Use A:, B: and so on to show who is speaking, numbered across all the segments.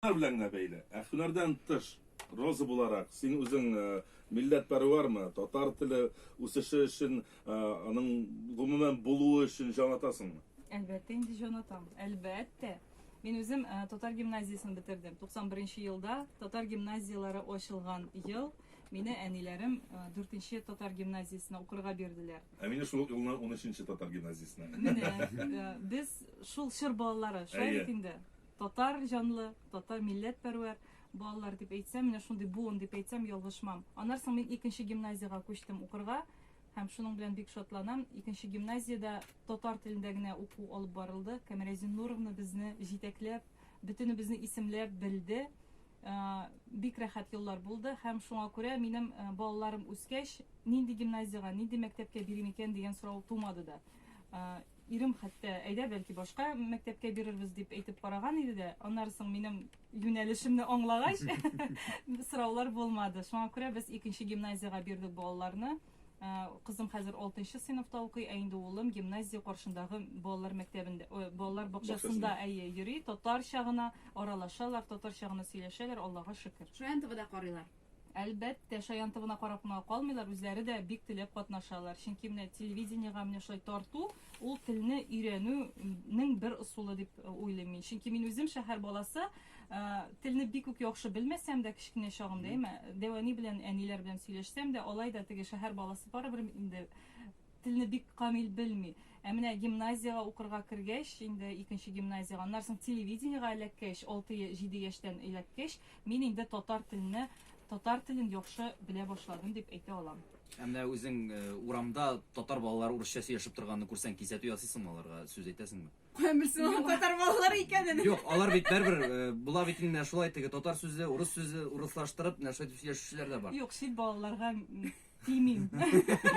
A: Алар белән генә бәйле. Ә һөнәрдән тыш, Роза буларак, син үзең милләтпәрвәрме, татар теле үсеше өчен, аның гомумән булуы өчен җан атасыңмы? Әлбәттә инде җан
B: атам. Әлбәттә. Мин үзем татар гимназиясен бетердем. 91 нче елда татар гимназияләре ачылган ел мине әниләрем 4 нче татар гимназиясенә укырга бирделәр. Ә мине шул ук елны
A: 13 нче татар гимназиясенә. Менә
B: без шул чор балалары, шулай бит инде. Татар җанлы, татар милләт пәрвәр балалар дип әйтсәм, менә шундый буын дип әйтсәм ялгышмам. Аннан соң мин икенче гимназиягә күчтем укырга һәм шуның белән бик шатланам. Икенче гимназиядә татар телендә генә уку алып барылды. Камилә Зиннуровна безне җитәкләп, бөтенебезне исемләп белде. Э, бик рәхәт еллар булды һәм шуңа күрә минем э, балаларым үскәч, нинди гимназиягә, нинди мәктәпкә бирим икән дигән сорау тумады да. Э, Ирем хәтта, әйдә, бәлки, башка мәктәпкә бирербез дип әйтеп караган иде дә, аннары соң минем юнәлешемне аңлагач, сораулар булмады. Шуңа күрә без икенче гимназиягә бирдек балаларны. Ә, Кызым хәзер 6 сыйныфта укый, ә инде улым гимназия каршындагы балалар мәктәбендә, ой, балалар бакчасында әйе йөри, татарча гына аралашалар, татарча гына сөйләшәләр, Аллага шөкер. Шаянтовада карыйлар.
C: Әлбәттә,
B: шаян тыбына карап кына калмыйлар, үзләре дә бик теләп катнашалар. Чөнки менә телевидениегә менә шулай тарту, ул телне өйрәнү нең бер ысулы дип э, уйлыйм мин. Чөнки мин үзем шәһәр баласы, э, телне бик үк яхшы белмәсәм дә кечкенә чагымда, әмма дәвани белән, әниләр белән сөйләшсәм дә, алай да теге шәһәр баласы барыбер инде Телне бик камил белми. Ә менә гимназиягә укырга кергәч, инде икенче гимназиягә, аннары соң телевидениегә эләккәч, алты, җиде яшьтән эләккәч, мин инде татар телне, татар телен яхшы белә башладым дип әйтә алам. Ә менә үзең
D: урамда татар балалары урысча сөйләшеп торганны күрсәң, кисәтү ясыйсыңмы аларга, сүз әйтәсеңме? Каян белсен алар
C: татар балалары икәнен? Юк, алар бит бәрбер,
D: була бит инде менә шулай, теге татар сүзе, урыс сүзе урыслаштырып, менә шулай итеп сөйләшүчеләр дә бар. Юк, чит балаларга
B: Тимим.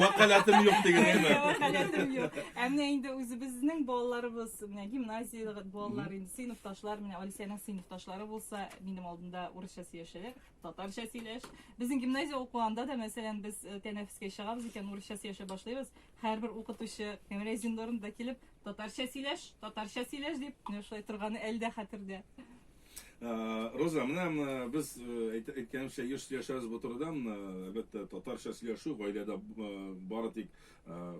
B: Вакалатым
A: юк дигәнме? Вакалатым юк.
B: Ә менә инде үзебезнең балаларыбыз, менә гимназия балалар, инде сыйныфташлар, менә Алисәнең сыйныфташлары булса, минем алдында урысча сөйләшәләр, татарча сөйләш. Безнең гимназия укуында да, мәсәлән, без э, тәнәфескә чыгабыз икән, урысча сөйләшә башлыйбыз. Һәрбер укытучы Кемрәзин Нурында килеп, татарча сөйләш, татарча сөйләш дип, менә шулай торганы әлдә хәтердә.
A: Роза, менә без әйткәнемчә еш сөйләшәбез бу турыда. Әлбәттә, татарча сөйләшү гаиләдә бары тик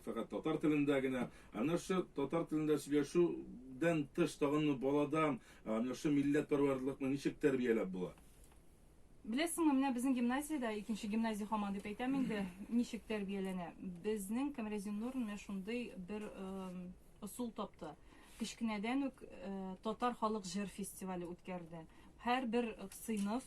A: фәкать татар телендә генә. Әнә шул татар телендә сөйләшүдән тыш тагын балада әнә шул милләтпәрвәрлыкны ничек тәрбияләп була? Беләсеңме,
B: менә безнең гимназиядә, икенче гимназия хаман дип әйтәм инде, ничек тәрбияләнә. Безнең Камрезин Нур менә шундый бер Ысул тапты. Кечкенәдән үк татар халык җыр фестивале үткәрде. Һәрбер сыйныф,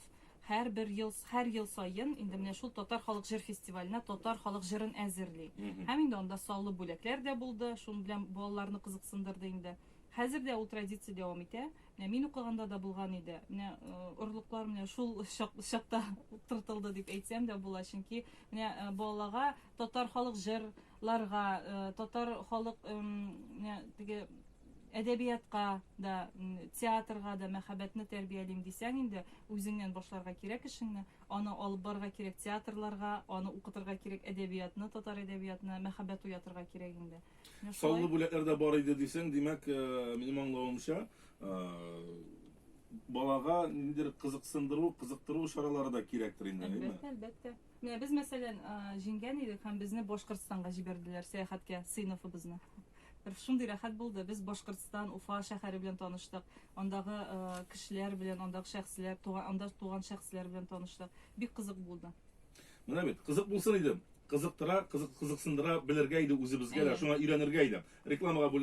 B: һәрбер ел, һәр ел саен инде менә шул татар халык җыр фестиваленә татар халык җырын әзерли. Һәм инде анда саллы бүләкләр дә булды, шуның белән балаларны кызыксындырды инде. Хәзер дә ул традиция дәвам итә. Менә мин укыганда да булган иде. Менә орлыклар менә шул чакта утыртылды дип әйтсәм дә була, чөнки менә балаларга татар халык җыр ларга, татар халык теге әдәбиятка да, театрга да мәхәббәтне тәрбиялим дисәң инде, үзеңнән башларга кирәк эшеңне, аны алып барырга кирәк театрларга, аны укытырга кирәк әдәбиятны, татар әдәбиятына мәхәббәт уятырга кирәк инде. Саллы бүләкләр
A: дә бар иде дисәң, димәк, минем аңлавымча, балага ниндидер кызыксындыру, кызыктыру чаралары да кирәктер инде, әйеме? Әлбәттә, әлбәттә. Менә без,
B: мәсәлән, җиңгән идек һәм безне Башкортстанга җибәрделәр сәяхәткә сыйныфыбызны. Шундый рәхәт булды. Без Башкортстан, Уфа шәһәре белән таныштык. Андагы кешеләр белән, андагы шәхесләр, туган, анда туган шәхесләр белән таныштык. Бик кызык булды. Менә бит,
A: кызык булсын иде. Кызыктыра, кызык, кызыксындыра белергә иде үзебезгә дә, Әйе. шуңа өйрәнергә иде. Рекламага бүл